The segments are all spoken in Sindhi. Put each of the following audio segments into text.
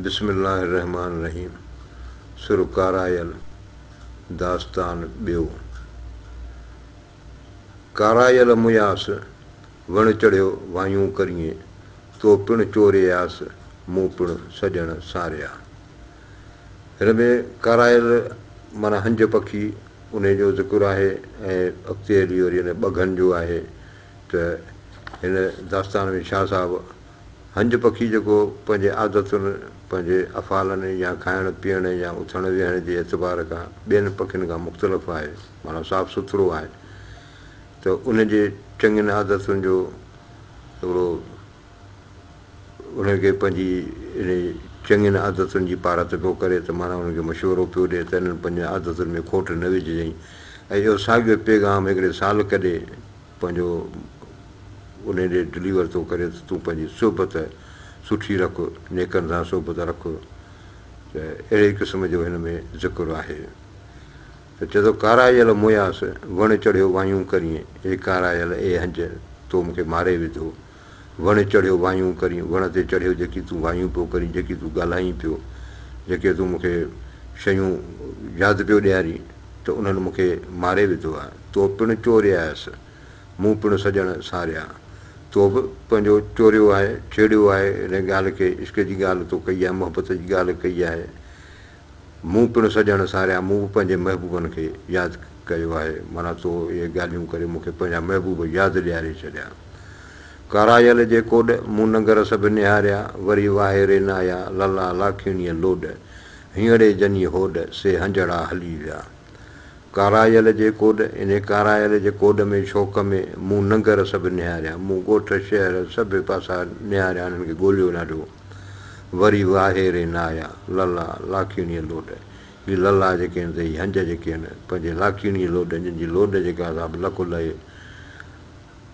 بسم الله الرحمٰن الرحيم سر ڪارايل داستان ٻيو ڪارايل مياس وڻ چڙهيو وايون ڪريين تو پڻ چورياس مون پڻ سڄڻ ساريا هن ۾ ڪارايل معنيٰ هنج پکي انهي جو ذڪر آهي ۽ اڳتي هلي وري ان ٻگهن جو آهي ته هن داستان ۾ شاهه صاحب هنج پکي جيڪو پنهنجي عادتن، پنهنجي افعالن يا کائڻ پيئڻ يا اٿڻ ويهڻ جي اعتبار کان ٻين پکين کان مختلف آهي، معنيٰ صاف سٿرو آهي ته ان جي چڱين عادتن جو هڪڙو انهن کي پنهنجي انهي چڱين عادتن جي پارت پيو ڪري ته معنيٰ انهن کي مشورو پيو ڏئي ته انهن پنهنجين عادتن ۾ کوٽ نه وجهجئين ۽ اهو ساڳيو پيغام هڪڙي سالڪ ڏي پنهنجو انهي ڏي ڊليور ٿو ڪري ته تون پنهنجي صحبت سٺي رک، نيڪن سان صحبت رک ته اهڙي قسم جو هن ۾ ذڪر آهي ته چئي ٿو ڪارائيل موياس وڻ چڙهيو وايون ڪرين اي ڪارائيل اي هنج تو مون کي ماري وڌو. وڻ چڙهيو وايون ڪرين، وڻ تي چڙهيو جيڪي تون وايون پيو ڪرين، جيڪي تون ڳالهائين پيو، جيڪي تون مون کي شيون ياد پيو ڏيارين ته انهن مون کي ماري وڌو آهي. تو پڻ چوريائس، مون پڻ سڄڻ ساريا. تو به پنهنجو چوريو آهي، ڇيڙيو آهي، هن ڳالهه کي، عشق جي ڳالهه تو ڪئي آهي، محبت جي ڳالهه ڪئي آهي. مون پڻ سڄڻ ساريا، مون به پنهنجي محبوبن کي ياد ڪيو آهي، معنيٰ تو اهي ڳالهيون ڪري مون کي پنهنجا محبوب ياد ڏياري ڇڏيا. ڪارايل جي ڪوڏ، مون ننگر سڀ نهاريا، وري واهي رين آيا، لالا لاکيڻيء لوڏ، هينئڙي جني هوڏ، سي هنجهڙا هلي ويا. ڪارايل جي ڪوڏ، انهي ڪارايل جي ڪوڏ ۾ شوق ۾ مون ننگر سڀ نهاريا. مون ڳوٺ، شهر سڀ پاسا نهاريا انهن کي ڳوليو نه رهيو. وري واهي ري نه آيا. للا، لاکيڻيء لوڏ. هي للا جيڪي آهن سي هي هنج جيڪي آهن پنهنجي لاکيڻيء لوڏ جن جي لوڏ جيڪا آهي سا به لکو لهي.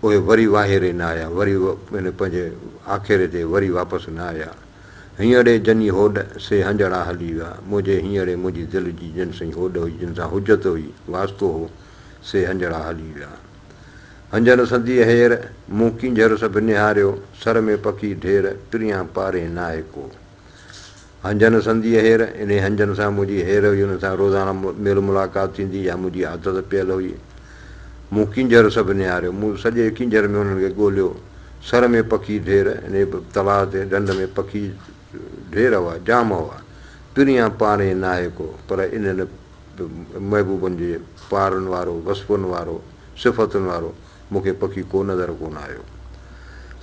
اهي وري واهي ري نه آيا. وري پنهنجي آکيري تي وري واپس نه آيا. هينئڙي جني هوڏ سي هنجهڙا هلي ويا، منهنجي هينئڙي منهنجي دل جي جن سئي هوڏ هئي، جن سان حجت هئي، واسطو هو، سي هنجهڙا هلي ويا. هنجهن سنديء هير، مون ڪينجهر سڀ نهاريو، سر ۾ پکي ڍير، پريان پارين ناهي ڪو. هنجهن سنديء هير، انهي هنجهن سان منهنجي هير هئي، انهن سان روزانه ميل ملاقات ٿيندي، اها منهنجي عادت پيل هئي. مون ڪينجهر سڀ نهاريو. مون سڄي ڪينجهر ۾ انهن کي ڳوليو. سر ۾ پکي ڍير ۽ تلاء تي ڍنڍ ۾ پکي ڍير هئا، جام هئا. پريان پاڻي ناهي ڪو، پر انهن محبوبن جي پارن وارو، وصفن وارو، صفتن وارو مون کي پکي ڪو نظر ڪونه آيو.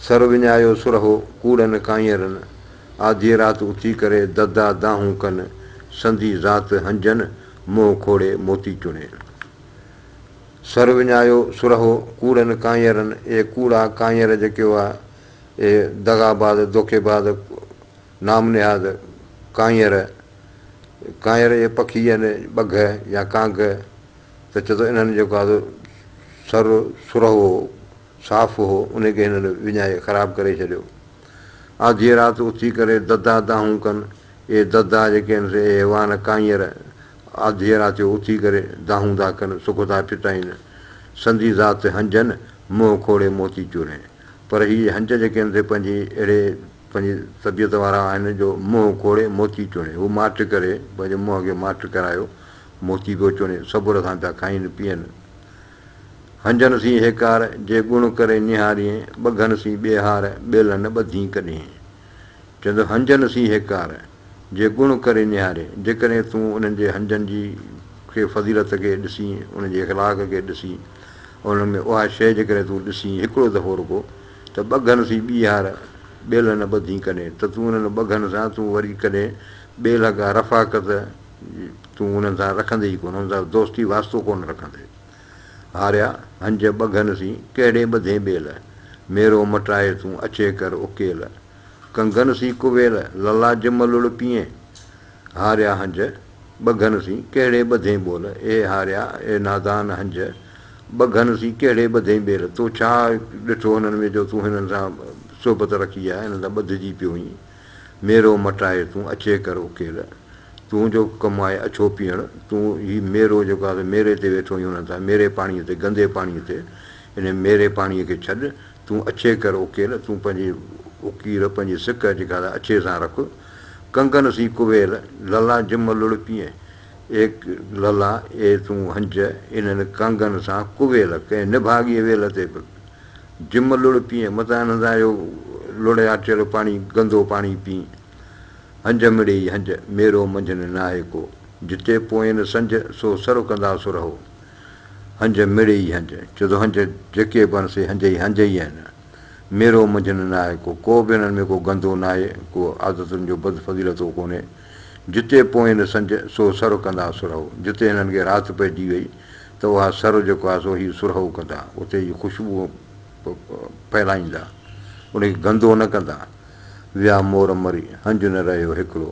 سر وڃايو سرهو، ڪوڙن ڪانئرن آڌيء رات اٿي ڪري ددا دانهون ڪن، سندي ذات هنجن، منهن کوڙي موتي چڻي. سر وڃايو سرهو ڪوڙن ڪانئرن، اي ڪوڙا ڪانئر جيڪي هئا، اي دغاباز دوکيباز نام نهاد ڪانئر، ڪانئر اي پکي يعني ٻگهه يا ڪانگ، ته چتو انهن جيڪو آ سو سر سرهو هو، صاف هو، انهي کي هنن وڃائي خراب ڪري ڇڏيو. آڌيء رات اٿي ڪري ددا دانهون ڪن، اي ددا جيڪي هن سي اي حيوان ڪانئر، آڌيء راتيو اٿي ڪري، دانهون ٿا ڪن، سڪ ٿا ٺٽائين. سندي ذات تي هنجن، منهن کوڙي موتي چورين. پر هي هنج جيڪي هن تي پنهنجي اهڙي پنهنجي طبيعت وارا آهن جو منهن کوڙي موتي چوڻي. هو ماٺ ڪري، پنهنجي منهن کي ماٺ ڪرايو، موتي پيو چوڻي، صبر سان پيا کائين پيئن. هنجن سين هيڪار، جي ڳڻ ڪري نهارين، ٻگهن سين ٻيهار، ٻيلن ٻڌين ڪڏهين. چوندو هنجن سين هيڪار. جي گڻ ڪري نهاري، جيڪڏهن تون انهن جي هنجن جي کي فضيلت کي ڏسين، انهن جي اخلاق کي ڏسين، انهن ۾ اها شيء جيڪڏهن تون ڏسين هڪڙو دفعو رڳو ته ٻگهن سين ٻيهار ٻيلهه نه ٻڌين ڪڏهن ته تون انهن ٻگهن سان تون وري ڪڏهن ٻيلهه ڪا رفاقت تون انهن سان رکندي ئي ڪونه انهن سان دوستي واسطو ڪونه رکندي هاريا هنج ٻگهن سين ڪهڙي ٻڌين ٻيلهه ميرو مٽائي تون اچي ڪر اڪيلهه ڪنگن سين ڪويل للا جم لڙ پيئين، هاريا هنج ٻگهن سين ڪهڙي ٻڌين ٻول، اي هاريا اي نادان هنج ٻگهن سين ڪهڙي ٻڌين ٻيل، تو ڇا ڏٺو هنن ۾ جو تون هنن سان صحبت رکي آ، هنن سان ٻڌجي پيو هئين، ميرو مٽائي تون اڇي ڪر اڪيل، تنهنجو ڪم آهي اڇو پيئڻ، تون هي ميرو جيڪو آ سو ميري تي ويٺو هئين هنن سان، ميري پاڻيء تي، گندي پاڻيء تي، انهي ميري پاڻيء کي ڇڏ، تون اڇي ڪر اوڪيل، تون پنهنجي اوڪيل پنهنجي سڪ جيڪا ته اڇي سان رک، ڪنگن سين ڪويل، للا جم لڙ پيئي، اي للا اي تون هنج انهن ڪنگن سان ڪويل، ڪنهن نڀاڳي ويل تي به جم لڙ پيئي، متان انهن سان اهو لڙياٽيل پاڻي گندو پاڻي پيئي، هنج مڙي ئي هنج، ميرو منجهن ناهي ڪو، جتي پوئين سنج، سو سر ڪندا سرهو. هنج مڙئي ئي هنج، ڇو ته هنج جيڪي به آهن سي هنج ئي هنج ئي آهن. ميرو منجهن ناهي ڪو، ڪو به انهن ۾ ڪو گندو ناهي، ڪو عادتن جو بد فضيلتو ڪونهي. جتي پوئين نه سنج، سو سر ڪندا سرهو. جتي هنن کي رات پئجي وئي ته اها سر جيڪو آهي سو هي سرهو ڪندا، اتي ئي خوشبو ڦهلائيندا، ان کي گندو نه ڪندا. ويا مور مري، هنج نه رهيو هڪڙو.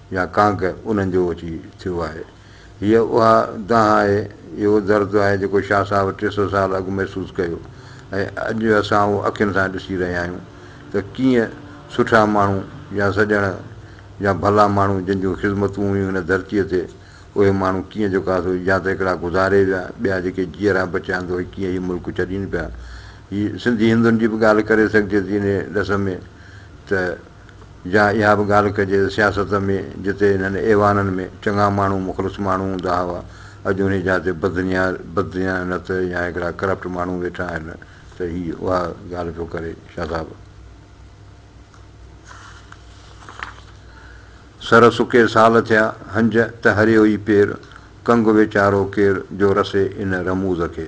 يا ڪانڪ انهن جو اچي ٿيو آهي. هيء اها دانهن آهي، اهو درد آهي جيڪو شاهه صاحب ٽي سؤ سال اڳ محسوس ڪيو ۽ اڄ اسان اهو اکين سان ڏسي رهيا آهيون ته ڪيئن سٺا ماڻهو يا سڄڻ يا ڀلا ماڻهو جن جون خذمتون هيون هن ڌرتيء تي اهي ماڻهو ڪيئن جيڪا سو يا ته هڪڙا گذاري ويا ٻيا جيڪي جيئرا بچيا آهن ته اهي ڪيئن هي ملڪ ڇڏين پيا. هي سنڌي هندن جي به ڳالهه ڪري سگهجي ٿي انهيء ڏس ۾ ته. جا اها به ڳالهه ڪجي ته سياست ۾ جتي انهن ايوانن ۾ چڱا ماڻهو مخلص ماڻهو هوندا هئا اڄ انهي جا تي بدنيا بدديانت يا هڪڙا ڪرپٽ ماڻهو ويٺا آهن ته هي اها ڳالهه پيو ڪري شاهه صاحب سر سڪي سال ٿيا هنج ته هريو ئي پير ڪنگ ويچارو ڪير جو رسي ان رموز کي.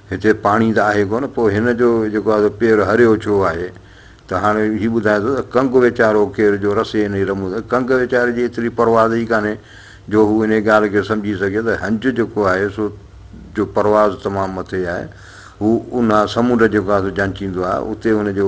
هتي پاڻي ته آهي ڪونه پوء هن جو جيڪو آهي سو پير هريو ڇو آهي؟ ته هاڻي هي ٻڌايان ٿو ته ڪنگ ويچارو ڪير جو رسي انهي رمون ٿا ڪنگ ويچاري جي ايتري پرواز ئي ڪانهي جو هو انهي ڳالهه کي سمجهي سگهي ته هنج جيڪو آهي سو جو پرواز تمام مٿي آهي هو اونها سمنڊ جيڪو آهي سو جانچيندو آهي اتي هن جو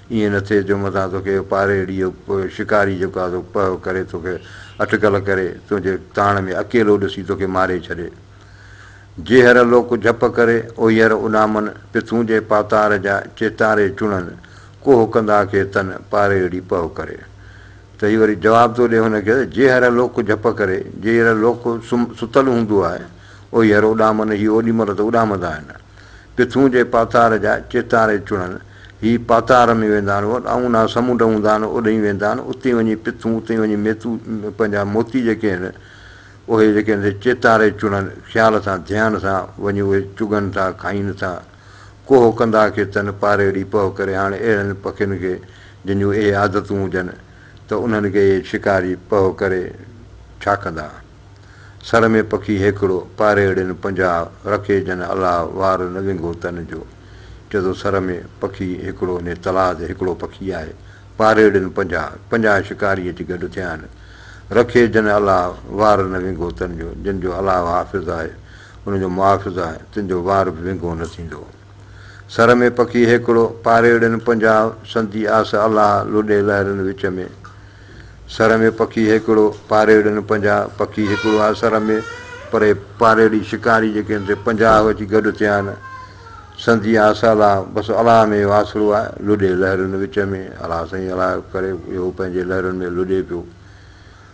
ائين نه ٿئي جو متان توکي اهو پارهيڙي جو شڪاري جيڪو آهي سو پهه ڪري توکي اٽڪل ڪري تنهنجي تاڻ ۾ اڪيلو ڏسي توکي ماري ڇڏي. جيهر لوڪ جهپ ڪري اوهيئر اڏامن پٿون جي پاتار جا چيتاري چڻن ڪوهه ڪندا کي تن پارهيڙي پهه ڪري. ته هي وري جواب ٿو ڏي هن کي ته جيهر لوڪ جهپ ڪري جيهر لوڪ سم ستل هوندو آهي اوهيئر اڏامن هي اوڏي مهل ته اڏامندا آهن. پٿون جي پاتار جا چيتاري چڻن، هي پاتار ۾ ويندا آهن، اهو ڏانهون نه سمنڊ هوندا آهن، اوڏهين ئي ويندا آهن، اتي وڃي پٿون، اتي وڃي ميتو، پنهنجا موتي جيڪي آهن، اهي جيڪي آهن سي چيتاري چڻن، خيال سان، ڌيان سان، وڃي اهي چگن ٿا، کائين ٿا. ڪوهه ڪندا کي تن پاريڙي پهه ڪري، هاڻي اهڙن پکين کي، جن جون اهي عادتون هجن، ته انهن کي اهي شڪاري پهه ڪري ڇا ڪندا؟ سر ۾ پکي هيڪڙو، پاريهڙين پنجاهه، رکي جن الاء، وار نه ونگهو تن جو. چئه ٿو سر ۾ پکي هيڪڙو ني تلاء تي هيڪڙو پکي آهي، پاريهڙين پنجاهه، پنجاهه شڪاري اچي گڏ ٿيا آهن. رکي جن الاء، وار نه ونگهو تن جو، جن جو الاء حافظ آهي، ان جو محافظ آهي، تن جو وار به ونگهو نه ٿيندو. سر ۾ پکي هيڪڙو، پاريڙين پنجاهه، سندي آس الاهه، لڏي لهرن وچ ۾. سر ۾ پکي هيڪڙو، پاريڙين پنجاهه، پکي هيڪڙو آهي سر ۾، پر اهي پاريڙي، شڪاري، جيڪي ان تي پنجاهه اچي گڏ ٿيا آهن. سندي آس الاهه، بس الاهه ۾ اهو آسرو آهي، لڏي لهرن وچ ۾، الاهه سائين الاهه ڪري اهو پنهنجي لهرن ۾ لڏي پيو.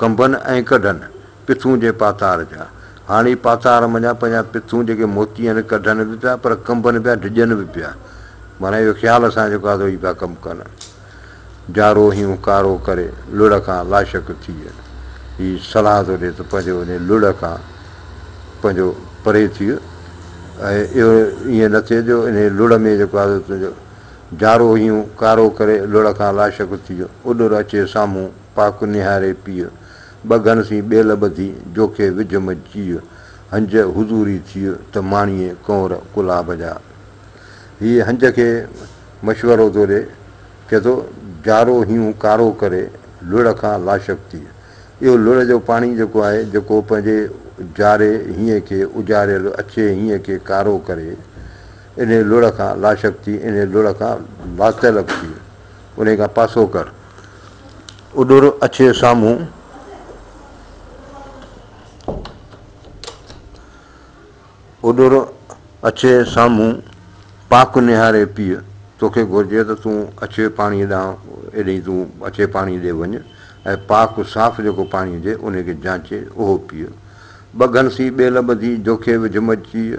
کنڀن ۽ ڪڍن، پٿون جي پاتار جا. هاڻي پاتار منجهان پنهنجا پٿون جيڪي موتي آهن ڪڍن به پيا پر کنڀن پيا ڊڄن به پيا. معنيٰ اهو خيال سان جيڪو آهي سو ئي پيا ڪم ڪن. جارو هيون ڪارو ڪري، لڙهه کان لاشڪ ٿيء. هي صلاح ٿو ڏي ته پنهنجو انهيء لڙهه کان پنهنجو پري ٿيء ۽ اهو ائين نه ٿئي جو انهيء لڙهه ۾ جيڪو آهي سو تنهنجو جارو هيون ڪارو ڪري لڙ کان لاشڪ ٿيء اڏر اچي سامهون پاڪ نهاري پيء ٻه گهن سين ٻيل ٻڌي جوکي وجهه م چيء هنج حضوري ٿيء ته ماڻيء ڪنور ڪلاب جا هيء هنج کي مشورو ٿو ڏي چئي ٿو جارو هيون ڪارو ڪري لڙ کان لاشڪ ٿيء اهو لڙ جو پاڻي جيڪو آهي جيڪو پنهنجي جاري هينء کي اجاريل اڇي هينء کي ڪارو ڪري انهيء لڙهه کان لاشڪ ٿي، انهيء لڙهه کان لاطلب ٿي، انهيء کان پاسو ڪر. اڏر اڇي سامهون اڏر اڇي سامهون پاڪ نهاري پيء توکي گهرجي ته تون اڇي پاڻيء ڏانهن ايڏينء تون اڇي پاڻيء ڏي وڃ ۽ پاڪ صاف جيڪو پاڻي هجي انهيء کي جانچي اهو پيء. ٻگهن سين ٻيل ٻڌي جوکي وجهه مجهه چيء،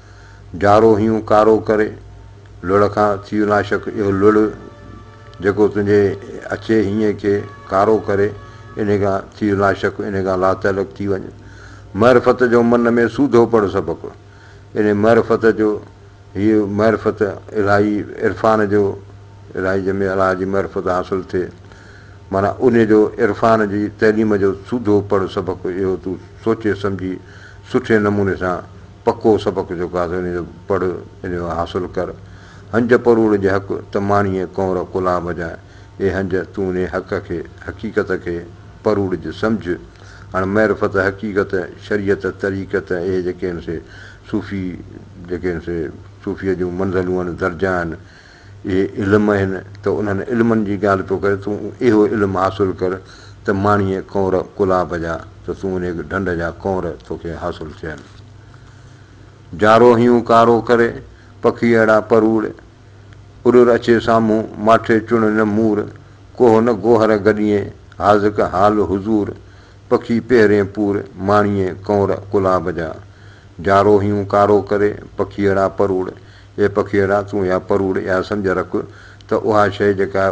جارو هيون ڪارو ڪري، لڙ کان ٿيء ناشڪ اهو لڙ، جيڪو تنهنجي اچي هينء کي ڪارو ڪري، انهي کان ٿيء ناشڪ، انهي کان لاتعلق ٿي وڃ. معرفت جو من ۾ سوڌو پڙ سبق، انهي معرفت جو، هيء معرفت الاهي عرفان جو، الاهي جنهن ۾ الله جي معرفت حاصل ٿئي، معنيٰ انهي جو عرفان جي تعليم جو سوڌو پڙ سبق، اهو تون سوچي سمجهي سٺي نموني سان، پڪو سبق جو گازو نيزو پڙهه انيو حاصل ڪر. هنج پروڙ جي حق ته ماڻيء ڪنور ڪلها بجاء. اي هنج! تون انهي حق کي، حقيقت کي، پروڙ جي سمجهه. هاڻ معرفت، حقيقت، شريعت، طريقت اهي جيڪي هن سي صوفي جيڪي هن سي صوفيء جون منزلون آهن، درجا آهن، اهي علم آهن ته انهن علمن جي ڳالهه پيو ڪري تون اهو علم حاصل ڪر ته ماڻيء ڪنور ڪلاب جا ته تون انهيء ڍنڍ جا ڪنور توکي حاصل ٿين. جارو هيون ڪارو ڪري، پکي اهڙا پروڙ، اڏر اچي سامهون، ماٺي چڻ نه مور، ڪوهه نه گوهر گڏيين، حاذق حال حضور، پکي پهرين پور، ماڻيء ڪنور ڪلاب جا. جارو هيون ڪارو ڪري، پکي اهڙا پروڙ، اي پکيئڙا! تون اها پروڙ اها سمجهه رک ته اها شيء جيڪا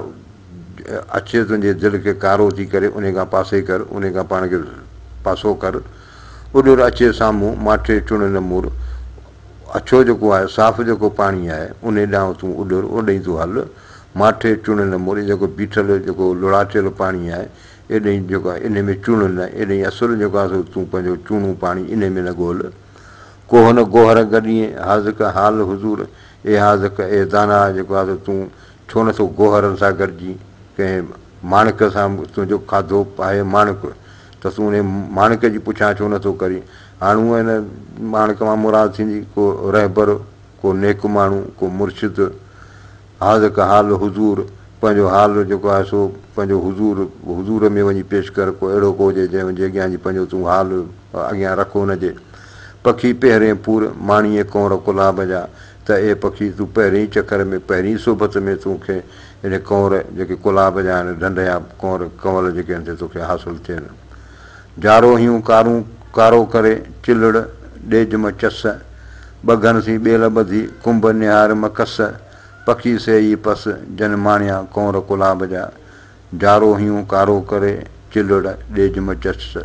اچي تنهنجي دل کي ڪارو ٿي ڪري انهي کان پاسي ڪر، انهي کان پاڻ کي پاسو ڪر. اڏر اچي سامهون، ماٺي چڻ نه مڙ. اڇو جيڪو آهي، صاف جيڪو پاڻي آهي، انهي ڏانهن تون اڏر، اوڏانهن تون هل. ماٺي چڻ نه مڙ، جيڪو بيٺل، جيڪو لڙاٽيل پاڻي آهي، ايڏانهن جيڪو آهي، انهي ۾ چڻ نه، ايڏانهن اصل جيڪو آهي سو تون پنهنجو چوڻو پاڻي انهي ۾ نه ڳول. ڪوهه نه گوهر گڏيين، حاذق حال حضور، اي حاذق، اي داناء جيڪو آ سو تون ڇو نه ٿو گوهرن سان گڏجين، ڪنهن ماڻڪ سان، تنهنجو کاڌو آهي ماڻڪ ته تون انهيء ماڻڪ جي پڇا ڇو نه ٿو ڪرين، هاڻ هونء ان ماڻڪ مان مراد ٿيندي ڪو رهبر، ڪو نيڪ ماڻهو، ڪو مرشد. حاذق حال حضور، پنهنجو حال جيڪو آهي سو پنهنجو حضور، حضور ۾ وڃي پيش ڪر، ڪو اهڙو ڪو هجي جنهن جي اڳيان جي پنهنجو تون حال اڳيان رک ان جي. پکي پهرين پور، ماڻيء ڪنور ڪلاب جا، ته اي پکي تون پهرين چڪر ۾ پهرين صحبت ۾ تون کي اهي ڪنور جيڪي ڪلاب جا آهن، ڍنڍ يا ڪنور ڪنول جيڪي ان تي توکي حاصل ٿين. جاروهيون ڪارون ڪارو ڪري، چلڙ ڏيج م چس، ٻگهن سين ٻيل ٻڌي، ڪنڀ نهار م ڪس، پکي سي ئي پس، جن ماڻيا ڪنور ڪلاب جا، جاروهيون ڪارو ڪري، چلڙ ڏيج م چس،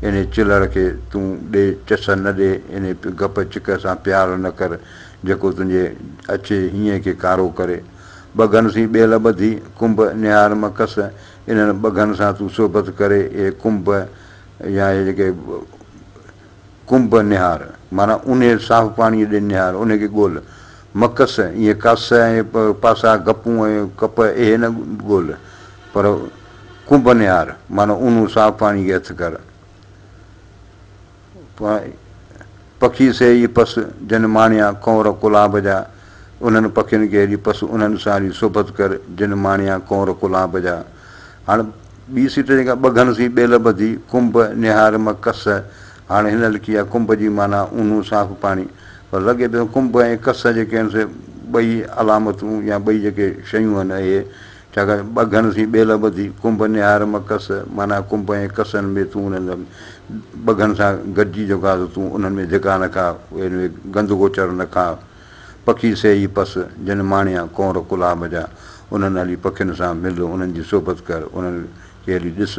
انهي چلڙ کي تون ڏي چس نه ڏي، انهي گپ چڪ سان پيار نه ڪر، جيڪو تنهنجي اچي هينئين کي ڪارو ڪري. ٻگهن سين ٻيل ٻڌي، ڪنڀ نهار م ڪس، انهن ٻگهن سان تون صحبت ڪري اي ڪنب يا اي جيڪي ڪنب نهار، معنيٰ اونهي صاف پاڻيء ڏي نهار، انهي کي ڳول. مڪس، ايئن ڪس ۽ پاسا، گپون ۽ ڪپ اهي نه ڳول، پر ڪنب نهار، معنيٰ اونهون صاف پاڻيء کي هٿ ڪر. پکي سي ئي پس، جن ماڻيا ڪنور ڪلاب جا، انهن پکين کي هيڏي پس، انهن سان هيڏي صحبت ڪر، جن ماڻيا ڪنور ڪلاب جا. هاڻ ٻي سٽ جيڪا ٻگهن سين ٻيل ٻڌي، ڪنڀ، نهار م ڪس، هاڻ هن لکي آهي ڪنڀ جي معنيٰ اونو صاف پاڻي، پر لڳي پيو ڪنڀ ۽ ڪس جيڪي آهن سي ٻئي علامتون يا ٻئي جيڪي شيون آهن اهي ڇاڪاڻ ٻه گهن ٿي ٻيل ٻڌي، ڪنڀ نهار مڪس، معنيٰ ڪنڀ ۽ ڪسن ۾ تون انهن ۾ ٻه گهن سان گڏجي جو کاء سو تون انهن ۾ ڌڪا نه کاء، انهن ۾ گند گوچر نه کاء. پکي سي ئي پس، جن ماڻيا، ڪونر ڪلها مجا، انهن هلي پکين سان مل، انهن جي صحبت ڪر، انهن کي هلي ڏس،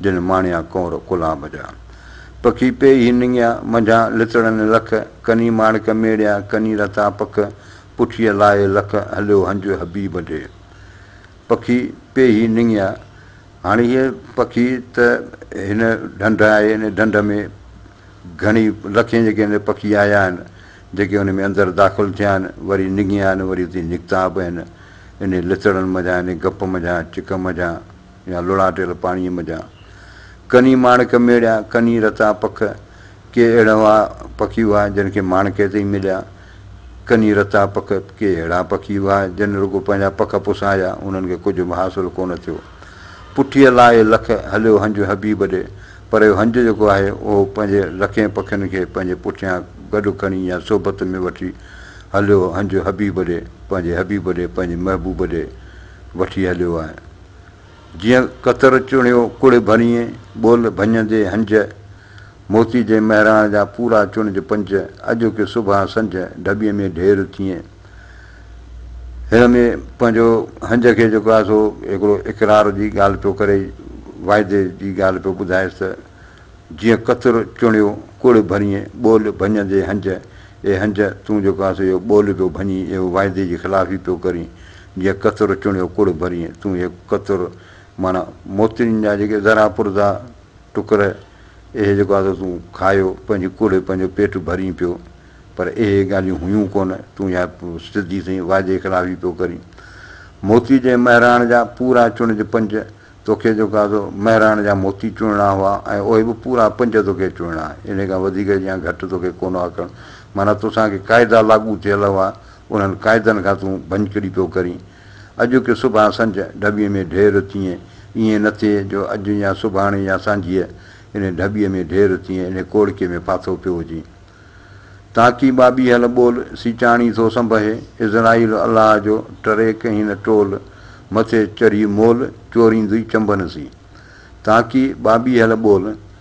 جن ماڻيا، ڪونر ڪلها مجا. پکي پي هي نڱيا، منجهان لتڙن لک، ڪني ماڻڪ ميڙيا، ڪني رتا پک، پٺيء لاهي لک، هليو هنج حبيب ڏي. پکي پئي هي نڱيا. هاڻي هيء پکي ته هن ڍنڍ آهي، هن ڍنڍ ۾ گهڻي لکين جيڪي هن پکي آيا آهن، جيڪي ان ۾ اندر داخل ٿيا آهن، وري نڱيا آهن، وري اتي نڪتا به آهن، انهيء لتڙن منجهان، انهيء گپ منجهان، چڪ منجهان. يا لڙاٽيل پاڻيء منجهان ڪني ماڻڪ ميڙيا، ڪني رتا پک، ڪي اهڙا پکي هئا جن کي ماڻڪ تي ئي مليا، ڪني رتا پک، ڪي اهڙا پکي هئا جن رڳو پنهنجا پک پسايا، انهن کي ڪجهه به حاصل ڪونه ٿيو. پٺيء لاهي لک، هليو هنج حبيب ڏي، پر اهو هنج جيڪو آهي، اهو پنهنجي لکين پکين کي پنهنجي پٺيان گڏ کڻي يا صحبت ۾ وٺي هليو هنج حبيب ڏي، پنهنجي حبيب ڏي، پنهنجي محبوب ڏي وٺي هليو آهي. جيئن ڪتر چڻيو ڪڙهه ڀريئي ٻول ڀڃندي هنج موتي جي مهراڻ جا پورا چڻج پنج اڄوڪي صبح سنج ڍٻي ۾ ڍير ٿيئي هن ۾ پنهنجو هنج کي جيڪو آهي سو هڪڙو اقرار جي ڳالهه پيو ڪري واعدي جي ڳالهه پيو ٻڌائيس ته جيئن ڪتر چڻيو ڪڙهه ڀريئي ٻول ڀڃندي هنج اي هنج تون جيڪو آهي سو اهو ٻول پيو ڀڃين اهو واعدي جي خلافي پيو ڪرين جيء قطر چڻيو ڪڙ ڀرين تون هي قطر معنيٰ موتين جا جيڪي ذرا پرزا ٽڪر اهي جيڪو آزو تون کايو پنهنجي ڪڙ پنهنجو پيٽ ڀرين پيو پر اهي ڳالهيون هيون ڪونه تون اها سڌي سئي وعدي خلافي پيو ڪرين موتي جي مهراڻ جا پورا چڻج پنج توکي جيڪو آزو مهراڻ جا موتي چڻڻا هئا ۽ اهي به پورا پنج توکي چڻڻا انهي کان وڌيڪ يا گهٽ توکي ڪونه هئا ڪرڻ معنيٰ توسان ڪي قاعدا لاڳو ٿيل هئا انهن قاعدن کان تون ڀڃڪڙي پيو ڪرين. اڄ ڪي صبح سنج ڍٻي ۾ ڍير ٿئين. ائين نه ٿئي جو اڄ يا صبحاڻي يا سانجهيء انهي ڍٻي ۾ ڍير ٿئين انهي ڪوڙڪي ۾ ڦاٿو پيو هجين. تانڪي ٻاٻي هل ٻول سيچاڻي ٿو سنبهي. عزرائيل الله جو ٽريڪ هين ٽول مٿي چڙهي مول چوريندئي چنبن سين. تانڪي ٻاٻي هل ٻول.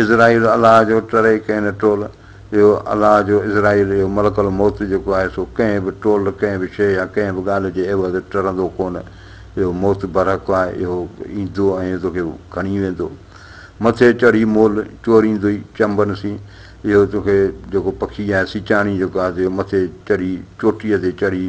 عزرائيل الله جو ٽرئي ڪين ٽول اهو الله جو عزرائيل اهو ملڪ الموت جيڪو آهي سو ڪنهن به ٽول ڪنهن به شيء يا ڪنهن به ڳالهه جي عيوض ٽرندو ڪونه اهو موت برحق آهي اهو ايندو ۽ تو کي کڻي ويندو مٿي چڙهي مول چوريندوئي چنبن سين اهو تو کي جيڪو پکي آهي سچاڻي جيڪو آهي سو اهو مٿي چڙهي چوٽيء تي چڙهي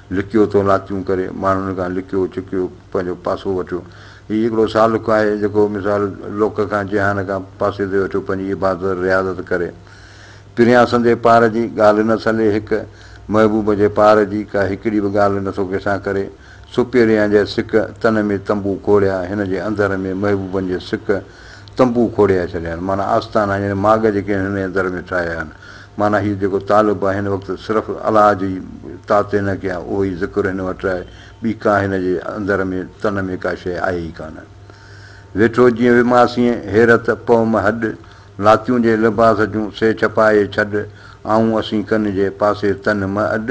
لڪيو تو ناتيون ڪري، ماڻهن کان لڪيو ڇڪيو پنهنجو پاسو وٺيو. هي هڪڙو سالڪ آهي، جيڪو مثال لوڪ کان، جهان کان پاسي تي وٺيو پنهنجي عبادت رياضت ڪري. پريان سندي پار جي، ڳالهه نه سلي هڪ، محبوب جي پار جي، ڪا هڪڙي به ڳالهه نه ٿو ڪنهن سان ڪري. سپيريان جي سڪ، تن ۾ تنبو کوڙيا، هن جي انڌر ۾ محبوبن جي سڪ، تنبو کوڙيائي ڇڏيا آهن، معنيٰ آستانا يعني ماڳ جيڪي هن ۾ در ۾ ٺاهيا آهن. معنيٰ هيء جيڪو طالب آهي هن وقت صرف الله جي طاعتين نه ڪيا، اهو ئي ذڪر هن وٽ آهي، ٻي ڪا هن جي اندر ۾ تن ۾ ڪا شيء آهي ئي ڪانه. ويٺو جيئن وماسين، حيرت، پوم، هڏ، لاتيون جي لباس جون، سي ڇپائي ڇڏ، آئون اسين ڪن جي، پاسي تن م اڏ،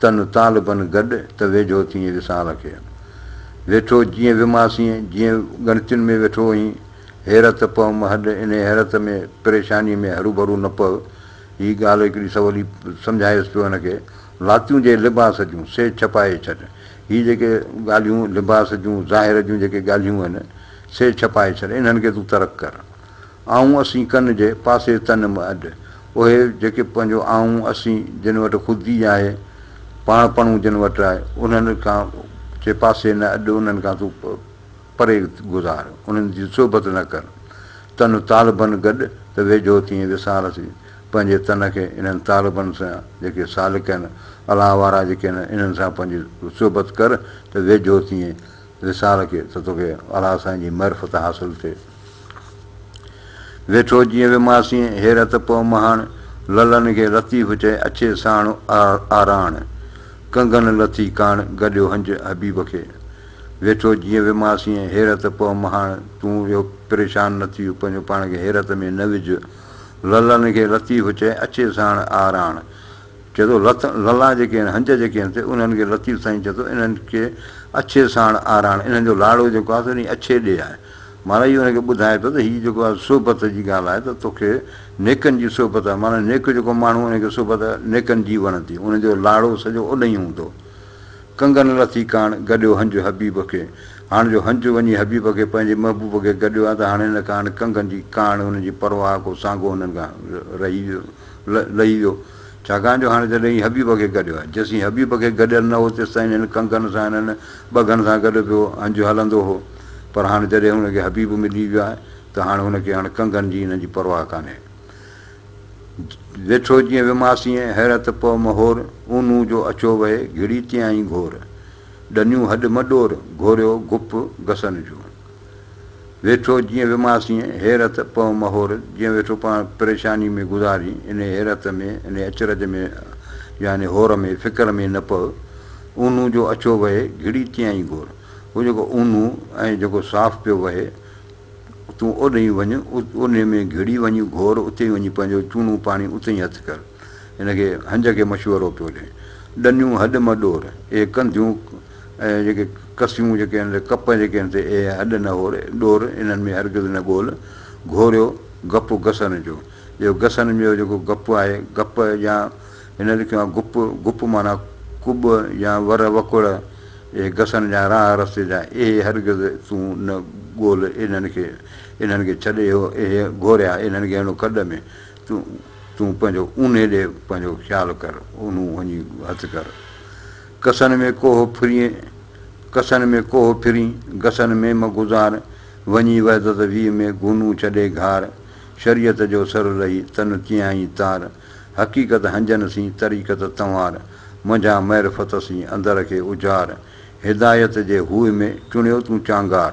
تن طالبن گڏ ته ويجهو ٿيئين وصال کي. ويٺو جيئن وماسين، جيئن ڳڻتين ۾ ويٺو هئين. حيرت پئه مهڏ، انهيء حيرت ۾، پريشانيء ۾ هروڀرو نه پئه. هيء ڳالهه هڪڙي سولي سمجهايس پيو هن کي. لاتيون جي لباس جون، سي ڇپائي ڇڏ. هي جيڪي ڳالهيون لباس جون، ظاهر جون جيڪي ڳالهيون آهن، سي ڇپائي ڇڏ، انهن کي تون ترڪ ڪر. آئون اسين ڪن جي پاسي تن م اڏ. اهي جيڪي پنهنجو آئون اسين جن وٽ خودي آهي، پاڻ پڻون جن وٽ آهي، انهن کان جي پاسي نه اڏ، انهن کان تون پري گذار، انهن جي صحبت نه ڪر. تن طالبن گڏ ته ويجهو ٿئين وسار سي، پنهنجي تن کي انهن طالبن سان جيڪي سالڪ هن، الله وارا جيڪي هن، انهن سان پنهنجي صحبت ڪر ته ويجهو ٿئين، وصال کي ته توکي الاهه سائين جي معرفت حاصل ٿئي. ويٺو جيئن وي ماسين هير ته پئو مهاڻ. لعلن کي لطيف چئي اڇي ساڻ آراڻ. ڪنگن لٿي ڪاڻ گڏيو هنج حبيب کي. ويٺو جيئن وي ماسين هير ته پئو مهاڻ. تون اهو پريشان نه ٿيء پنهنجو پاڻ کي حيرت ۾ نه وجهه. لعلن کي لطيف چئي اڇي ساڻ آراڻ. چئي ٿو، لت للا جيڪي آهن، هنج جيڪي آهن سي انهن کي لطيف سائين چئي ٿو، انهن کي اڇي ساڻ آراڻ، انهن جو لاڙو جيڪو آهي سو انهي اڇي ڏي آهي. معنيٰ اهو انهن کي ٻڌائي ٿو ته هي جيڪو آهي صحبت جي ڳالهه آهي ته توکي نيڪن جي صحبت آهي، معنيٰ نيڪ جيڪو ماڻهو انهي کي صحبت نيڪن جي وڻندي، انهن جو لاڙو سڄو اڏنهين هوندو. ڪنگن لٿي ڪاڻ، گڏيو هنج حبيب کي. هاڻ جو هنج وڃي حبيب کي پنهنجي محبوب کي گڏيو آهي ته هاڻ هن ڪاڻ ڪنگن جي ڪاڻ انهن جي پرواهه ڪو سانگو انهن کان رهي ويو لهي ويو. ڇاڪاڻ جو هاڻي جڏهن هي حبيب کي گڏيو آهي، جيسين حبيب کي گڏيل نه هو، تيستائين هن ڪنگن سان هنن ٻگهن سان گڏ پيو هنج هلندو هو، پر هاڻي جڏهن هن کي حبيب ملي ويو آهي ته هاڻي هن کي هن ڪنگن جي هنن جي پرواهه ڪانهي. ويٺو جيئن وماسين، حيرت پئو مهور، اونهون جو اڇو وهي، گهڙي تيائين گهور، ڏنيون هڏ مڏور، گهوريو گپ گسن جون. ويٺو جيئن ويماسين حيرت پئو مهور جيئن ويٺو پاڻ پريشاني ۾ گذارين انهي حيرت ۾ انهي اچرج ۾ يا انهي هور ۾ فڪر ۾ نه پئو اونهون جو اڇو وهي گهڙي تيئن گهور هو جيڪو اونهون ۽ جيڪو صاف پيو وهي تون اوڏهين وڃ اونهي ۾ گهڙي وڃي گهور اتي ئي وڃي پنهنجو چونو پاڻي اتي ئي هٿ ڪر هن کي هنج کي مشورو پيو ڏئي ڏنيون هڏ م ڏور اهي ڪنڌيون ۽ جيڪي ڪسيون جيڪي آهن سي ڪپ جيڪي آهن سي اهي هڏ نه هور ڏور انهن ۾ هرگز نه ڳول گهوريو گپ گسن جو اهو گسن جو جيڪو گپ آهي گپ يا هن لکيو آهي گپ گپ معنيٰ ڪٻ يا ور وڪڙ اهي گسن جا راهه رستي جا اهي هرگز تون نه ڳول انهن کي انهن کي ڇڏ اهو اهي گهوريا انهن کي هڻو کڏ ۾ تون پنهنجو اونهي ڏي پنهنجو خيال ڪر، اونهون وڃي هٿ ڪر. ڪسن ۾ ڪوهه ڦرين، ڪسن ۾ ڪوهه ڦرين، گسن ۾ م گذار، وڃي وحدت ويهه ۾ گهونون ڇڏي گهار، شريعت جو سر رهي تن تيائين تار، حقيقت هنجن سين طريقت تنوار، منجهان معرفت سين اندر کي اجهار، هدايت جي هوء ۾ چڻيو تون چانگار،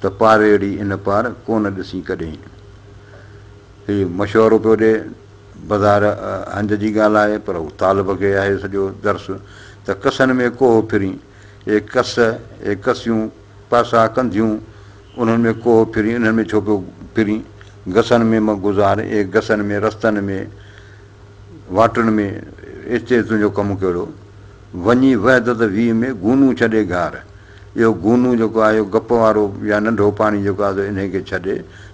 ته پاريڙي ان پار ڪونه ڏسين ڪڏهين. هي مشورو پيو ڏئي. بظاهر هنج جي ڳالهه آهي، پر هو طالب کي آهي سڄو درس ته ڪسن ۾ ڪوهه ڦرين. اي ڪس، اي ڪسيون، پاسا ڪنڌيون، انهن ۾ ڪوهه ڦرين، انهن ۾ ڇو پيو ڦرين؟ گسن ۾ مه گذار، اي گسن ۾، رستن ۾، واٽن ۾، اتي تنهنجو ڪم ڪهڙو؟ وڃي وحدت ويهه ۾، گونون ڇڏي گهار. اهو گونو جيڪو آهي اهو گپ وارو يا ننڍو پاڻي جيڪو آهي سو انهيء کي ڇڏ،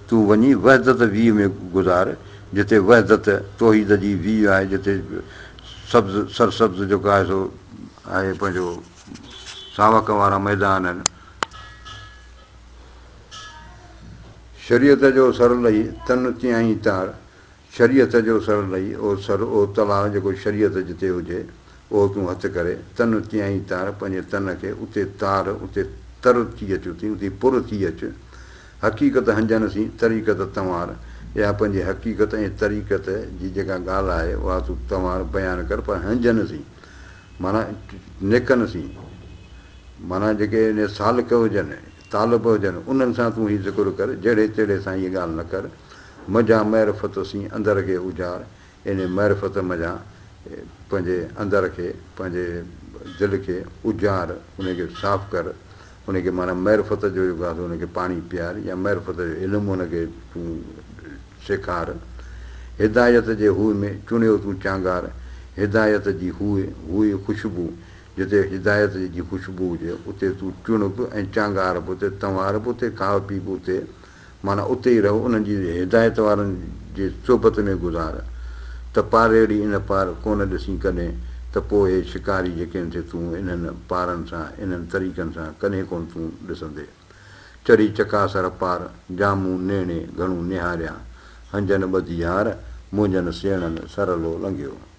تون وڃي وحدت ويهه ۾ گذار، جتي وحدت، توحيد جي ويهه آهي، جتي سبز، سرسبز جيڪو آهي سو آهي پنهنجو ساوڪ وارا ميدان آهن. شريعت جو سر لهي تن تيائين تار. شريعت جو سر لئي او سر او تلاء جيڪو شريعت جتي هجي اهو تون هٿ ڪري تن تيائين تار پنهنجي تن کي اتي تار اتي تر ٿي اچ اتي اتي پر ٿي اچ حقيقت هنجن سين طريقت تنوار اها پنهنجي حقيقت ۽ طريقت جي جيڪا ڳالهه آهي اها تون تنوار بيان ڪر پر هنجن سين معنيٰ نيڪن سين معنيٰ جيڪي سالڪ هجن. طالب هجن، انهن سان تون هي ذڪر ڪر، جهڙي تهڙي سان هيء ڳالهه نه ڪر، منجهان معرفت سين اندر کي اجهار، يعني معرفت منجهان پنهنجي اندر کي، پنهنجي دل کي اجهار، انهي کي صاف ڪر، انهي کي معنيٰ معرفت جو جيڪو آهي سو ان کي پاڻي پيار يا معرفت جو علم ان کي تون سيکار، هدايت جي هوء ۾ چڻيو تون چانگار، هدايت جي هوء، هوء خوشبو، جتي هدايت جي خوشبو هجي، اتي تون چڻ به ۽ چانگار به اتي، تنوار به اتي، کاء پي به اتي، معنيٰ اتي ئي رهه، انهن جي هدايت وارن جي صحبت ۾ گذار، ته پاريڙي ان پار ڪونه ڏسين ڪڏهن، ته پوء هي شڪاري جيڪين کي تون انهن پارن سان، انهن طريقن سان، ڪڏهن ڪونه تون ڏسندي. چڙهي چڪاسر پار، جا مون نيڻي گهڻو نهاريا، هنجن ٻڌي يار، منهنجن سيڻن سرلو لنگهيو.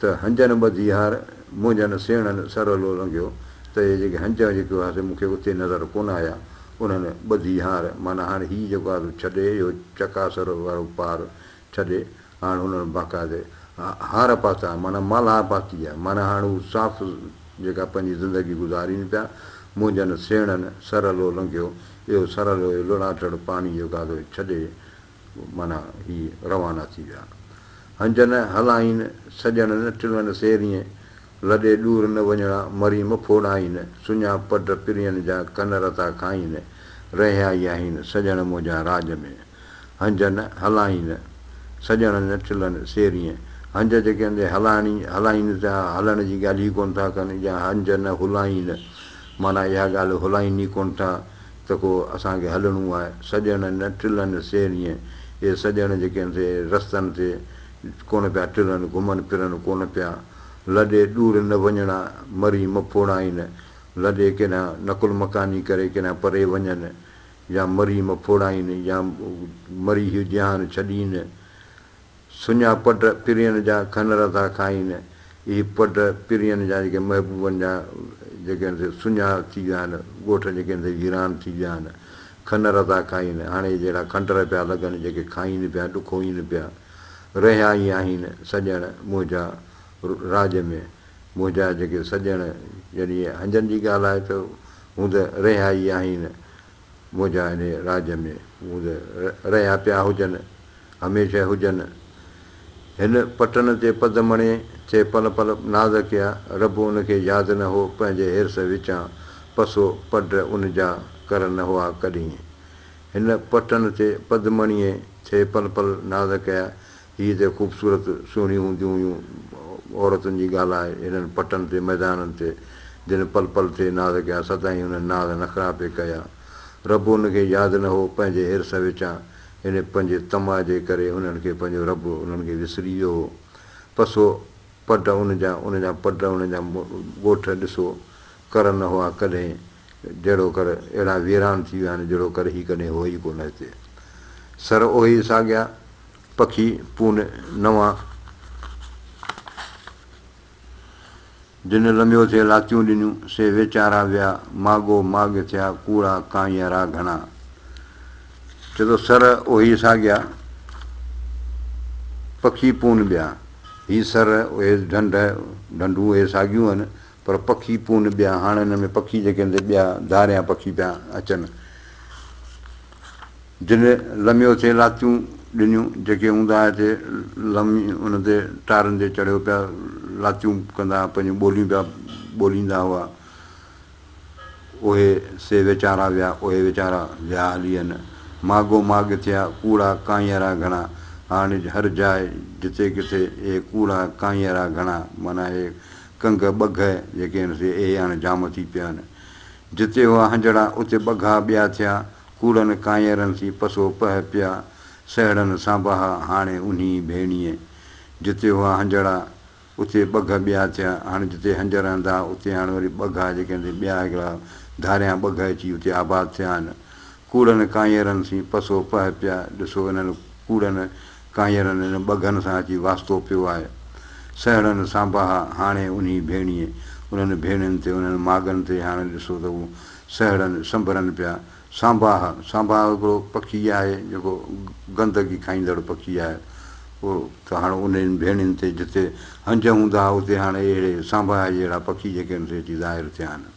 ته هنجن ٻڌي هار منهنجن سيڻن سرهلو لنگهيو ته اهي جيڪي هنج ۾ جيڪي هئا سي مون کي اتي نظر ڪونه آيا. انهن ٻڌي هار معنيٰ هاڻ هي جيڪو آزو ڇڏي اهو چڪاسر وارو پار ڇڏي هاڻ انهن باقاعدي هار پاتا معنيٰ مالها پاتي آهي معنيٰ هاڻ هو صاف جيڪا پنهنجي زندگي گذارين پيا منهنجن سيڻن سرهلو لنگهيو اهو سرهلو اهو لڙاٽڙ پاڻي جيڪو آزو ڇڏي معنيٰ هي روانا ٿي ويا. هنجن هلائين سڄڻن ٽلن سيرين، لڏي ڏور نه وڃڻا مريم ڦوڙائين، سڃا پڊ پرين جا ڪن رتا کائين، رهيائي آهين سڄڻ منهنجا راڄ ۾. هنجن هلائين سڄڻن ٽلن سيرين، هنج جيڪي هلائڻ جي ڳالهه ئي ڪونه ٿا ڪن يا هنجن هلائين معنيٰ اها ڳالهه هلائين ئي ڪونه ٿا ته ڪو اسان کي هلڻو آهي. سڄڻ نه ٽلن سير ائين. اهي سڄڻ جيڪي آهن سي رستن تي ڪونه پيا ٽلن، گهمن ڦرن ڪونه پيا. لڏي ڏور نه وڃڻا، مري مڦوڙا آهن. لڏي ڪيڏانهن نقل مڪاني ڪري ڪيڏانهن پري وڃن. يا مري مڦوڙا آهن يا مري هيء جهان ڇڏين. سڃا پڊ پرين جا کنر ٿا کائين. اهي پڊ پرين جا جيڪي محبوبن جا جيڪي هن تي سڃا ٿي ويا آهن، ڳوٺ جيڪي هن تي ويران ٿي ويا آهن، کنر ٿا کائين. هاڻي اهي جهڙا کنڊر پيا لڳن، جيڪي کائين پيا، ڏکوئين پيا. رهيا ئي آهن سڄڻ منهنجا راڄ ۾. منهنجا جيڪي سڄڻ، يعني هنجن جي ڳالهه آهي ته هوند رهيا ئي آهن منهنجا هن راڄ ۾ ووند رهيا پيا هجن، هميشه هجن. هن پٽن تي پد مڻي ٿي پل پل ناز ڪيا. رب ان کي ياد نه هو پنهنجي حرص وچان پسو پڊ ان جا ڪر نه هئا ڪڏهين. هن پٽن تي پد مڻيء ٿي پل پل ناز ڪيا هي ته خوبصورت سهڻيون هونديون هيون عورتن جي ڳالهه آهي هنن پٽن تي ميدانن تي جن پل پل تي ناز ڪيا سدائين هنن ناز نخرا پئي ڪيا رب هن کي ياد نه هو پنهنجي حرص وچان هن پنهنجي طمع جي ڪري هنن کي پنهنجو رب هنن کي وسري ويو هو پس هو پڊ ان جا ان جا پڊ ان جا ڳوٺ ڏسو ڪر نه هئا ڪڏهن جهڙو ڪر اهڙا ويران ٿي ويا آهن جهڙو ڪر هي ڪڏهن هئي ئي ڪونه هتي. سر اهي ساڳيا پکي پون نوان جن لنبيو ٿئي لاتيون ڏنيون سي ويچارا ويا ماڳو ماڳ ٿيا ڪوڙا ڪانئيء را گهڻا چئي ٿو سر اهي ساڳيا پکي پون ٻيا هي سر اهي ڍنڍ ڍنڍون اهي ساڳيون آهن پر پکي پون ٻيا هاڻ ان ۾ پکي جيڪي ان تي ٻيا ڌاريان پکي پيا اچن جن لميو ٿي لاتيون ڏنيون جيڪي هوندا هئا هتي لمي ان تي ٽارن تي چڙهيو پيا لاتيون ڪندا هئا پنهنجون ٻوليون پيا ٻوليندا هئا اهي سي ويچارا ويا اهي ويچارا ويا هلي ان ماڳو ماڳ ٿيا ڪوڙا ڪانئيرا گهڻا هاڻ هر جاء جتي ڪٿي اهي ڪوڙا ڪانئيرا گهڻا معنيٰ اهي ڪنگ ٻگهه جيڪي هن سي اهي هاڻي جام ٿي پيا آهن. جتي هئا هنجڙا، اتي ٻگها ٻيا ٿيا، ڪوڙن ڪانئرن سين پسو پهه پيا، سهڙن سانباها هاڻي انهي ڀيڻيء. جتي هئا هنجڙا، اتي ٻگهه ٻيا ٿيا، هاڻي جتي هنجر هندا اتي هاڻي وري ٻگها جيڪي هن سي ٻيا هڪڙا ڌاريان ٻگهه اچي اتي آباد ٿيا آهن. ڪوڙن ڪانئرن سين پسو پهه پيا ڏسو انهن ڪوڙن ڪانئرن ان ٻگهن سان اچي واسطو پيو آهي سهڙن سانباها هاڻي انهي ڀيڻيء انهن ڀيڻين تي انهن ماڳن تي هاڻي ڏسو ته هو سهڙن سنڀرن پيا سانباهه سانباهه هڪڙو پکي آهي جيڪو گندگي کائيندڙ پکي آهي اهو ته هاڻي انهن ڀيڻين تي جتي هنج هوندا اتي هاڻي اهڙي سانباهه جهڙا پکي جيڪي ان تي اچي ظاهر ٿيا آهن.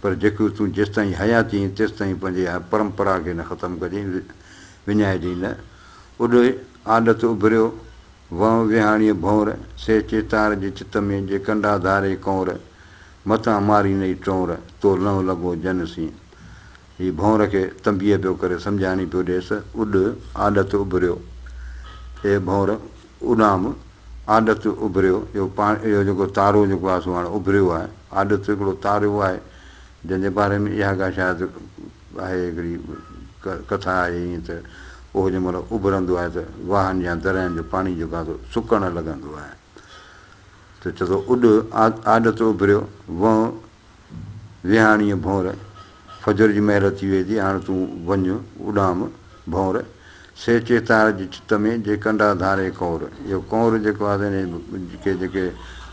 پر جيڪو تون جيستائين حيات جيئين تيستائين پنهنجي اها پرمپرا کي نه ختم ڪجين، وڃائجين نه. اڏوهي، آڏت اڀريو، وهنء ويهاڻيء ڀونر، سي چيتار جي چت ۾، جي ڪنڊا ڌاري ڪونر، متان ماري نئي ٽونر، تو لنهه لڳو جن سين. هي ڀونر کي تنبيهه پيو ڪري، سمجهاڻي پيو ڏيس، اڏ، آڏت اڀريو، اي ڀونر! اڏام، آڏت اڀريو، اهو پاڻ اهو جيڪو تارو جيڪو آهي سو هاڻي اڀريو آهي. آڏت هڪڙو تارو آهي، جنهن جي باري ۾ اها ڳالهه شايد آهي هڪڙي ڪٿا آهي ائين ته اهو جنهن مهل اڀرندو آهي ته واهن يا دريائن جو پاڻي جيڪو آهي سو سڪڻ لڳندو آهي ته چئجو اڏ، آڏت اڀريو، وئون، ويهاڻيء ڀونر، فجر جي مهل ٿي ويئي ٿي، هاڻ تون وڃ، اڏام، ڀونر، سي چيتار جي چت ۾، جي ڪنڊا ڌاري ڪنور. اهو ڪنور جيڪو آهي سو هن کي جيڪي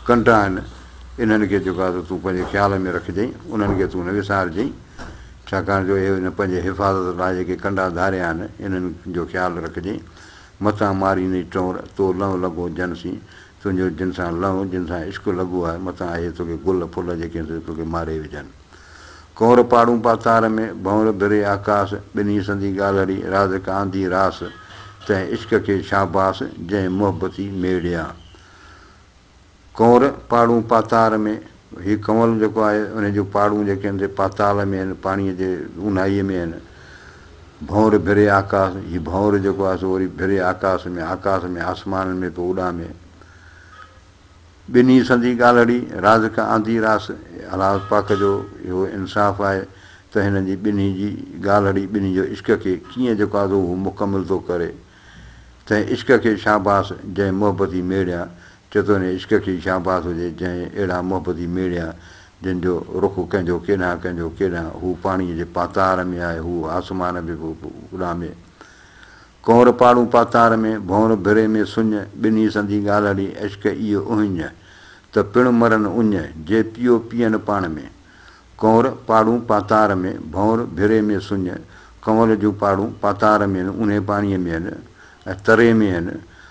ڪنڊا آهن، انهن کي جيڪو آهي سو تون پنهنجي خيال ۾ رکجئين، انهن کي تون نه وسارجئين، ڇاڪاڻ جو اهي هن پنهنجي حفاظت لاء جيڪي ڪنڊا ڌاريا آهن، انهن جو خيال رکجئين، متان مارينئي ٽنور، تو لنء لڳو جن سين، تنهنجو جن سان لنء، جن سان عشق لڳو آهه، متان اهي توکي گل ڦل جيڪي سي توکي ماري وجهن. ڪنور پاڙون پا تار ۾، ڀنور ڀري آڪاس، ٻنهي سندي ڳالهڙي، رازڪ آندي راس، تنهن عشق کي شاباس، جنهن محبتي ميڙيا. ڪنور پاڙون پا تار ۾. هي ڪنول جيڪو آهي، انهي جون پاڙون جيڪي آهن سي پاتال ۾ آهن، پاڻيء جي اونهائيء ۾ آهن. ڀنور ڀري آڪاس، هي ڀنور جيڪو آهي سو وري ڀري آڪاس ۾، آڪاس ۾ آسمانن ۾ پيو اڏامي. ٻنهي سندي ڳالهڙي، رازق آندي راس، الله پاڪ جو اهو انصاف آهي ته هنن جي ٻنهي جي ڳالهڙي، ٻنهي جو عشق کي ڪيئن جيڪو آهي سو هو مڪمل ٿو ڪري. تنهن عشق کي شاباس، جنهن محبتي ميڙيان، چيتوني عشق کي شهباز هجي جنهن اهڙا محبتي ميڙيا جن جو رخ ڪنهن جو ڪيڏانهن ڪنهن جو ڪيڏانهن هو پاڻيء جي پاتار ۾ آهي هو آسمان به اڏامي ڪنور پاڙون پاتار ۾ ڀونر ڀري ۾ سڃ ٻنهي سندي ڳالهڙي عشق اي اهڃ ته پڻ مرن اڃ جي پيو پيئن پاڻ ۾ ڪنور پاڙون پاتار ۾ ڀونر ڀري ۾ سڃ ڪنور جون پاڙون پاتار ۾ هن انهي پاڻيء ۾ هن ۽ تري ۾ هن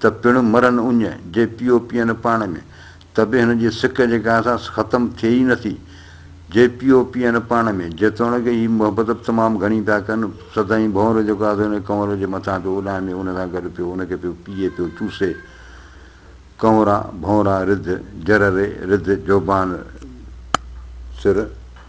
ته پڻ مرن اڃ، جي پيو پيئن پاڻ ۾، ته به هن جي سڪ جي گاهه سان ختم ٿئي ئي نٿي. جي پيو پيئن پاڻ ۾، جيتوڻيڪ هي محبت به تمام گهڻي پيا ڪن، سدائين ڀؤنر جو گاهه ته هن ڪنور جي مٿان پيو اڏامي، ان سان گڏ پيو ان کي پيو پيئي، پيو چوسي. ڪنورا، ڀؤنرا، رڌ، جرري، رڌ، جوبان، سر.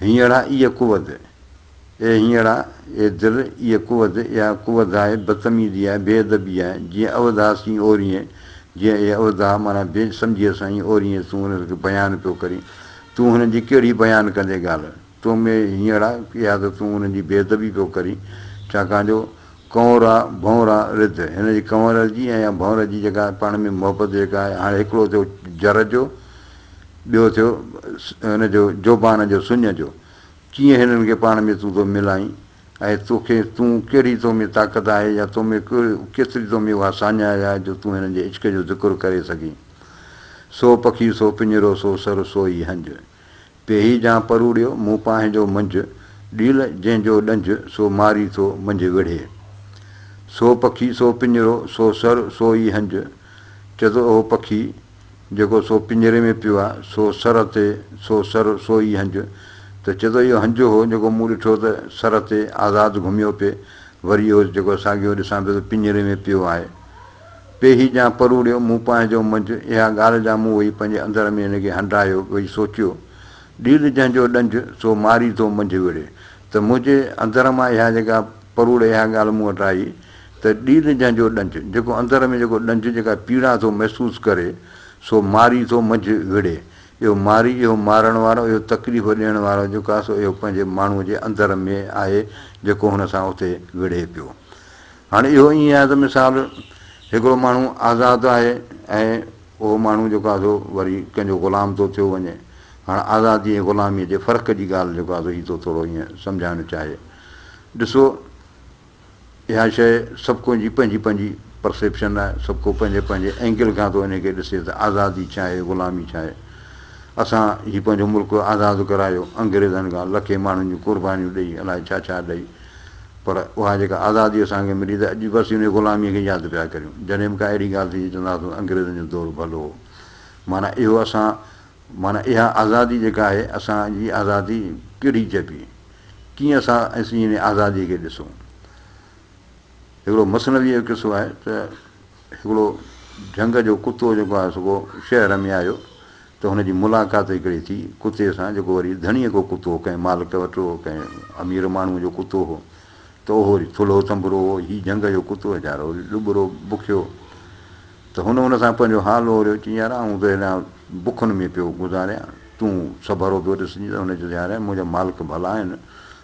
هينئڙا اي قوت، اي هينئڙا، اي در، اي قوت، اها قوت آهي، بدتميزي آهي، بي ادبي آهي، جيئن اوڌا سين اورينء، جيئن اي اوڌا، معنيٰ بي سمجهيء سان اي اورينء تون هن کي بيان پيو ڪرين، تون هن جي ڪهڙي بيان ڪندين ڳالهه، تو ۾ هينئڙا، اها ته تون هن جي بي ادبي پيو ڪرين، ڇاڪاڻ جو ڪنورا، ڀنورا، رڌ، هن جي ڪنور جي ۽ يا ڀنور جي جيڪا پاڻ ۾ محبت جيڪا آهي، هاڻي هڪڙو ٿيو جر جو، ٻيو ٿيو هن جو جوبان جو سڃ جو، ڪيئن هنن کي پاڻ ۾ تون ٿو ملائين ۽ توکي تون ڪهڙي تو ۾ طاقت آهي يا تو ۾ ڪيتري تو ۾ اها ساڃاهه آهي جو تون هنن جي عشق جو ذڪر ڪري سگهين. سو پکي سو پڃرو سو سر سو ئي هنج. پيهي جان پروڙيو مون پانهنجو منجهه، ڏيل جنهن جو ڏنجهه سو ماري ٿو منجهه وڙهي. سو پکي سو پڃرو سو سر سو ئي هنج، چتو اهو پکي جيڪو سو پڃري ۾ پيو آ، سو سر تي سو سر سو ئي هنج، ته چتو اهو هنج هو جيڪو مون ڏٺو ته سر تي آزاد گهميو پئي، وري اهو جيڪو ساڳيو ڏسان پيو ته پڃري ۾ پيو آهي. پي هي ڄام پروڙيو، مون پنهنجو منجهه، اها ڳالهه جا مون وئي پنهنجي اندر ۾ ان کي هنڊايو، وئي سوچيو، ڏيل جنهن جو ڏنج، سو ماري ٿو منجهه وڙهي، ته منهنجي اندر مان اها جيڪا پروڙي اها ڳالهه مون وٽ آئي، ته ڏيل جنهن جو ڏنج، جيڪو اندر ۾ جيڪو ڏنج، جيڪا پيڙا ٿو محسوس ڪري، سو ماري ٿو منجهه وڙهي، اهو ماري، اهو مارڻ وارو، اهو تڪليف ڏيڻ وارو جيڪو آهي، سو اهو پنهنجي ماڻهوء جي اندر ۾ آهي، جيڪو هن سان اتي وڙهي پيو. هاڻي اهو ائين آهي ته مثال هڪڙو ماڻهو آزاد آهي ۽ اهو ماڻهو جيڪو آهي سو وري ڪنهن جو غلام ٿو ٿيو وڃي. هاڻ آزادي ۽ غلاميء جي فرق جي ڳالهه جيڪو آهي سو هي ٿو ٿورو ائين سمجهائڻ چاهي. ڏسو اها شيء سڀ ڪو جي پنهنجي پنهنجي پرسيپشن آهي، سڀ ڪو پنهنجي پنهنجي اينگل کان ٿو انهيء کي ڏسي ته آزادي ڇا آهي غلامي ڇا آهي. اسان هي پنهنجو ملڪ آزاد ڪرايو انگريزن کان لکين ماڻهن جون قربانيون ڏئي الائي ڇا ڇا ڏئي. پر اها جيڪا آزادي اسان کي ملي ته اڄ بس انهي غلاميء کي ياد پيا ڪريون. جڏهن به ڪا اهڙي ڳالهه ٿيندي چونداسون انگريزن جو دور ڀلو هو. معنيٰ اهو اسان معنيٰ اها آزادي جيڪا آهي اسان جي آزادي ڪهڙي چئبي؟ ڪيئن اسان انهي آزاديء کي ڏسون؟ هڪڙو مثنويء جو قصو آهي ته. هڪڙو جهنگ جو ڪتو جيڪو آهي سو ڪو شهر ۾ آيو ته هن جي ملاقات هڪڙي ٿي ڪتي سان جيڪو وري ڌڻيء ڪو ڪتو هو ڪنهن مالڪ وٽ هو ڪنهن امير ماڻهوء جو ڪتو هو ته اهو وري ٿلهو ٿنڀرو هو هي جهنگ جو ڪتو ويچارو وري ڏٻرو بکيو ته هن ان سان پنهنجو حال اوريو چيائين يار آئون ته هيڏانهن بکن ۾ پيو گذاريان تون سڀرو پيو ڏسجين ته هن چيس يار منهنجا مالڪ ڀلا آهن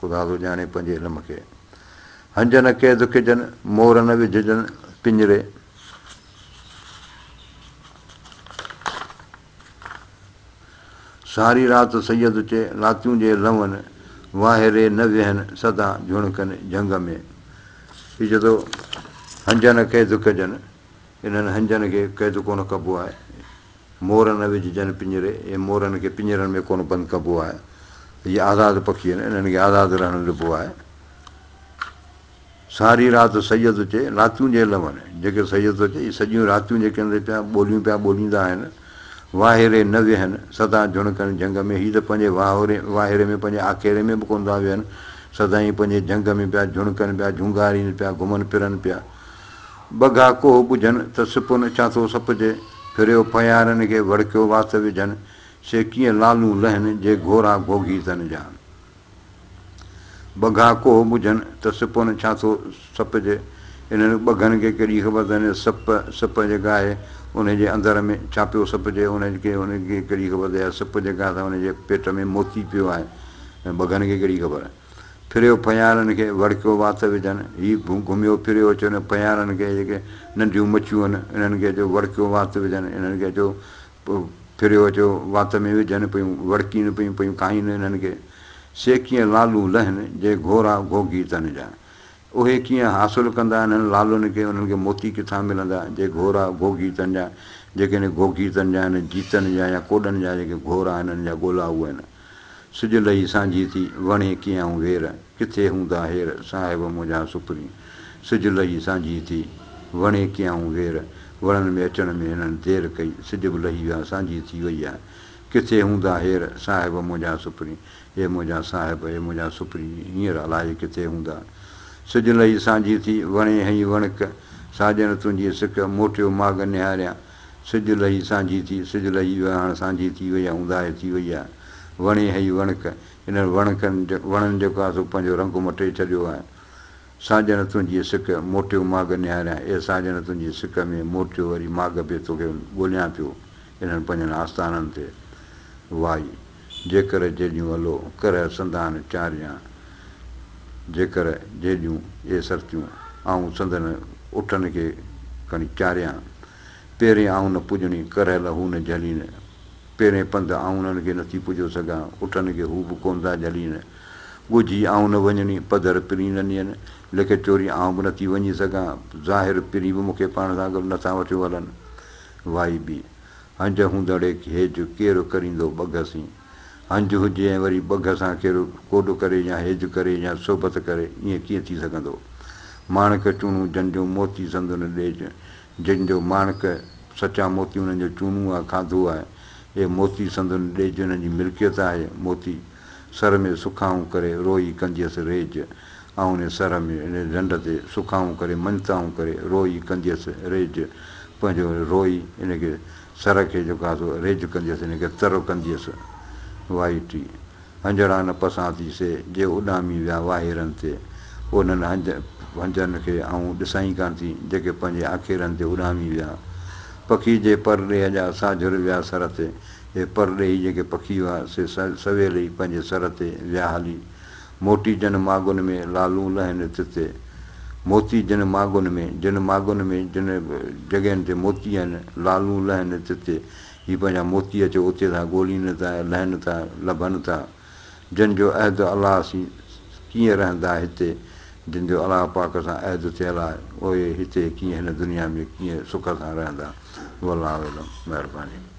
خدا ٿو ڄاڻي پنهنجي علم کي. هنج نه قيد ڪجن، مور نه وجهجن پڃري. ساري رات سيد چي لاتيون جي لون، واهري نه ويهن سدا جهڻڪن جهنگ ۾. هي چئي ٿو هنج نه قيد ڪجن. انهن هنجن کي قيد ڪونه ڪبو آهي. مور نه وجهجن پڃري، اي مورن کي پڃرن ۾ ڪونه بند ڪبو آهي. هي آزاد پکي آهن، انهن کي آزاد رهڻ ڏبو آهي. ساري رات سڄ ٿو چئي، راتيون جي لون، جيڪي سڄ ٿو چئي، اهي سڄيون راتيون جيڪي اندر پيا ٻوليون پيا ٻوليندا آهن، واهيري نه ويهن، سدا جهڻڪن جهنگ ۾، هي ته پنهنجي واهوري، واهيري ۾ پنهنجي آکيري ۾ به ڪونه ٿا ويهن، سدائين پنهنجي جهنگ ۾ پيا جهڻڪن پيا، جهونگارين پيا، گهمن پرن پيا. بگها ڪوهه ٻجهن ته سپن ڇا ٿو سپجي، ڦريو ڦهيارن کي وڙڪيو وات وجهن، سي ڪيئن لالون لهن جي گهورا گهوگهي تن جا. بگها ڪوهه ٻجهن ته سپن ڇا ٿو سپجي، انهن ٻگهن کي ڪهڙي خبر ته انهيء سپ، سپ جيڪا آهي انهيء جي اندر ۾ ڇا پيو سپجي، انهن کي ڪهڙي خبر ته اها سپ جيڪا آهي سا انهيء جي پيٽ ۾ موتي پيو آهي، ٻگهن کي ڪهڙي خبر. ڦريو ڦنيارن کي وڙڪيو وات وجهن. هي گهميو ڦريو اچيو هن ڦنيارن کي جيڪي ننڍيون مڇيون هن انهن کي اچيو وڙڪيو وات وجهن انهن کي اچيو ڦريو اچيو وات ۾ وجهن پيون وڙڪين پيون پيون کائين انهن کي سي ڪيئن لالون لهن جي گهورا گهوگهي تن جا اهي ڪيئن حاصل ڪندا انهن لالن کي انهن کي موتي ڪٿان ملندا جي گهورا گهوگهي تن جا جيڪي انهن گهوگهي تن جا انهن جيتن جا يا ڪوڏن جا جيڪي گهورا انهن جا ڳولا اهي انهن. سج لهي سانجهي ٿي، وڻي ڪيائون وير، ڪٿي هوندا هير، صاحب منهنجا سپري. سج لهي سانجهي ٿي، وڻي ڪيائون وير، وڻن ۾ اچڻ ۾ هنن دير ڪئي، سج به لهي ويا سانجهي ٿي وئي آ، ڪٿي هوندا هير، صاحب منهنجا سپري. اي منهنجا صاحب، اي منهنجا سپري، هينئر الائي ڪٿي هوندا. سج لهي سانجهي ٿي، وڻي هئي وڻڪ، ساڄن تنهنجي سڪ، موٽيو ماڳ نهاريان، سج لهي سانجهي ٿي، سج لهي ويو آهي، هاڻ سانجهي ٿي وئي آهي، اونداهي ٿي وئي آهي. وڻي هئي وڻڪ، انهن وڻڪن، وڻن جيڪو آهي سو پنهنجو رنگ مٽي ڇڏيو آهي. ساڄڻ تنهنجي سڪ، موٽيو ماڳ نهاريان، اي ساڄڻ تنهنجي سڪ ۾، موٽيو وري ماڳ به توکي ڳوليان پيو، انهن پنهنجن آستانن تي وائي. جيڪر جيڄون الو ڪرهه سندان چاريان جيڪر جيڄون اي سرتيون آئون سندن اٺن کي کڻي چاريان پيرين آئون نه پڄڻي ڪرهه لا هو نه جهلين پيرين پنڌ آئون انهن کي نٿي پڄو سگهان اٺن کي هو به ڪون ٿا جهلين ڳجهي آئون نه وڃڻي پڌر پرين ننين لڪ چوري آئون به نٿي وڃي سگهان ظاهر پرين به مون کي پاڻ سان گڏ نٿا وٺيو هلن وائي بي هنج هوندڙي هيج ڪير ڪريندو ٻگهه سين. هنج هجي ۽ وري ٻگهه سان ڪير ڪوڏ ڪري يا هيج ڪري يا صحبت ڪري، ائين ڪيئن ٿي سگهندو. ماڻڪ چونو جن جو موتي سندن ڏيج، جن جو ماڻڪ، سچا موتي انهن جو چونو آ، کاڌو آهي. اهي موتي سندن ڏيج، انهن جي ملڪيت آهي. موتي. سر ۾ سکائون ڪري روئي ڪنديس ريج آئون ني سر ۾ ان ڍنڍ تي سکائون ڪري مڃتائون ڪري روئي ڪنديس ريج پنهنجو روئي ان کي سر کي جيڪو آهي سو ريج ڪنديس ان کي تر ڪنديس وائي ٽي هنجڙا نه پسان ٿي سي جي اڏامي ويا واهيرن تي انهن هنج هنجن کي آئون ڏسائين ڪانه ٿي جيڪي پنهنجي آکيرن تي اڏامي ويا پکي جي پر ڏيهه جا ساجهر ويا سر تي اهي پرڏيهي جيڪي پکي هئا، سي سويل ئي پنهنجي سر تي ويا هلي. موٽي جن ماڳن ۾، لالون لهين تتي. موتي جن ماڳن ۾، جن ماڳن ۾، جن جڳهين تي موتي آهن، لالون لهين تتي. هي پنهنجا موتي اچي اتي ٿا ڳولين ٿا ۽ لهن ٿا، لڀن ٿا. جن جو عهد الله سين، سي ڪيئن رهندا هتي؟ جن جو الله پاڪ سان عهد ٿيل آهي، اهي هتي ڪيئن هن دنيا ۾ ڪيئن سک سان رهندا؟ والله اعلم. مهرباني.